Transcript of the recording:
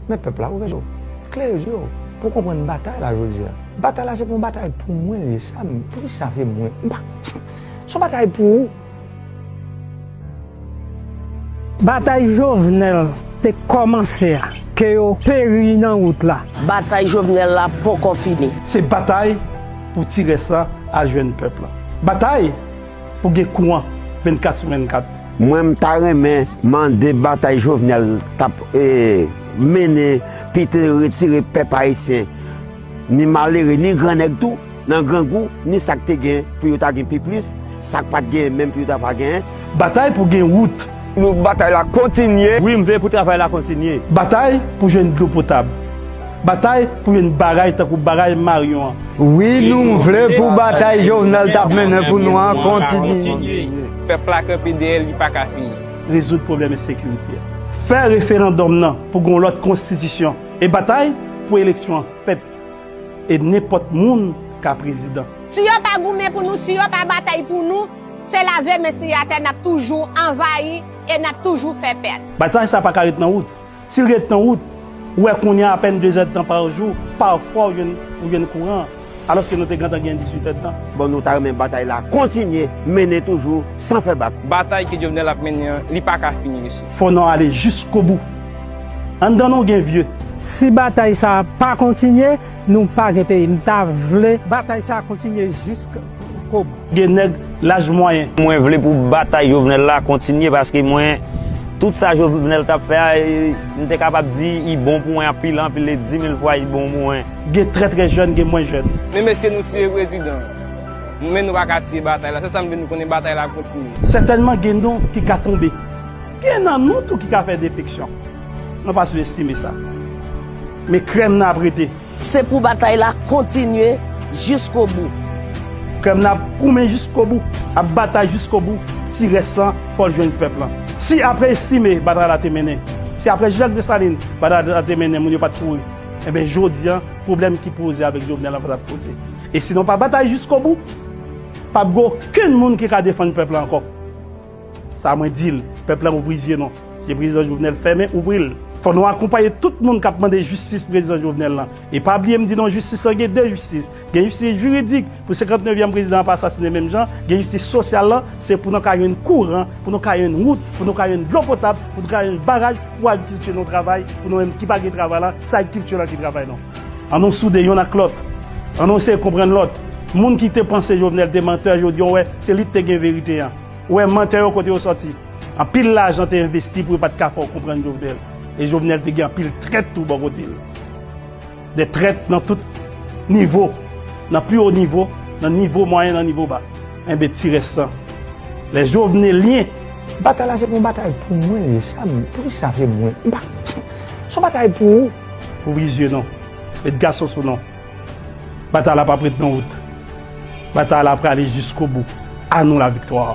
Men pèp la ouvè je w, klere je w pou w konprann batay la jodi a. Batay la se pou yon batay pou mwen li ye. Sa m, poukisa se mwen? M pa, se yon batay pou ou. Batay Jovenel te kòmanse a, ke yo peri nan wout la. Batay Jovenel la ponkò fini. Se batay pou ti rès la al jwenn pèp la. Batay! Pou gen kouran 24 sou 24. Mwen m ta renmen mande batay jovenel tap mennen pite retire pèp ayisyen ni malere ni gran nèg tou nan grangou ni sak te gen pou yo ta gen pi plis sak pat gen menm pou yo ta pa gen. Batay pou gen wout. Pou batay la kontinye. Wi m veye pou travay la kontinye. Batay pou jwenn dlo potab. Batay pou jwenn baraj tankou baraj Marion an. Wi nou vle pou batay Jovenel t ap mennen pou nou an kontinye. Pèp la kanpe dèyè l li pa ka fini. Rezoud pwoblèm ensekirite a. Fè referandòm nan pou gen yon lòt konstitisyon e batay pou eleksyon an fèt. E nenpòt moun ka prezidan. Si yo pa goumen pou nou, si yo pa batay pou nou, se lave men si atè n ap toujou anvayi e n ap toujou fè pèt. Batay sa pa ka ret nan wout. Si l ret nan wout, ou wè kounye a apèn dezèdtan pa jou, pafwa ou jwenn kouran an, alòske nou te gentan gen disitèdtan. Bon, nou ta renmen batay la kontinye mennen toujou san fè bak. Batay ke Jovenel ap mennen an, li pa ka fini, mesye. Fò nou ale jiskobou. Anndan nou gen vye. Si batay sa a pa kontinye, nou pa gen peyi. M ta vle. Batay sa a kontinye jisk o bou. Gen nèg laj mwayen. Mwen vle pou batay Jovenel la kontinye paske mwen tout sa Jovenel tap fè a m te kapab di i bon pou mwen anpil anpil e dimil fwa i bon pou mwen. Gen trè trè jèn gen mwen jèn. Men mesye nou tiye prezidan men nou paka tiye batay la se sam vle nou konnen batay la kontinye. Sètènman gen non ki ka tonbe Gen nan nou tou ki ka fè defeksyon. Nou pa sou estime sa. Men krèm nan ap rete. Se pou batay la kontinye jiskobou. Krèm nan ap goumen jiskobou. Ap batay jiskobou. Ti rès lan fò l jwenn pèp lan. Si apre estime batay la te mennen. Si apre Jean-Jacques Dessalines batay la te mennen moun yo pat kouri. Enben jodi an pwoblèm ki poze avèk Jovenel lan pa tap poze. E si nou pa batay jiskobou. Pap gen okenn moun ki ka defann pèp la ankò. Sa mwen dil pèp la ouvri zye non zye prezidan jovenel fèmen ouvril fò nou akonpaye tout moun kap mande jistis prezidan jovenel lan e pa bliye m di nou jistis lan gen 2 jistis gen jistis jiridik pou 59 yèm prezidan an pa asasine menm jan gen jistis sosyal lan se pou nan ka jwenn kouran pou nou ka jwenn wout pou nou ka jwenn dlo potab pou nou ka jwenn baraj pou agrikilti nou travay pou nou menm ki pa gen travay la se agrikilti lan ki travay nou an nou soude yonn ak lòt an nou eseye konprann lòt moun ki te panse jovenel te mantè jodi an wè se li ki te gen verite an. Ou wè mantè yo kote yo sòti. Anpil lajan te envesti pou yo pat ka fè w konprann Jovenel. E Jovenel te gen anpil trèt tou bò kote l. Dè trèt nan tout nivo. Nan pi wo nivo, nan nivo mwayen, nan nivo ba. Enben ti rès lan. Lè Jovenelyen. Batay la se pa yon batay pou mwen li ye sa m pou ki sa se mwen m pa se yon batay pou ou. Pou plizyè non. Met gason sou non. Batay la pap ret nan wout. Batay la prale jiskobou. A nou la viktwa!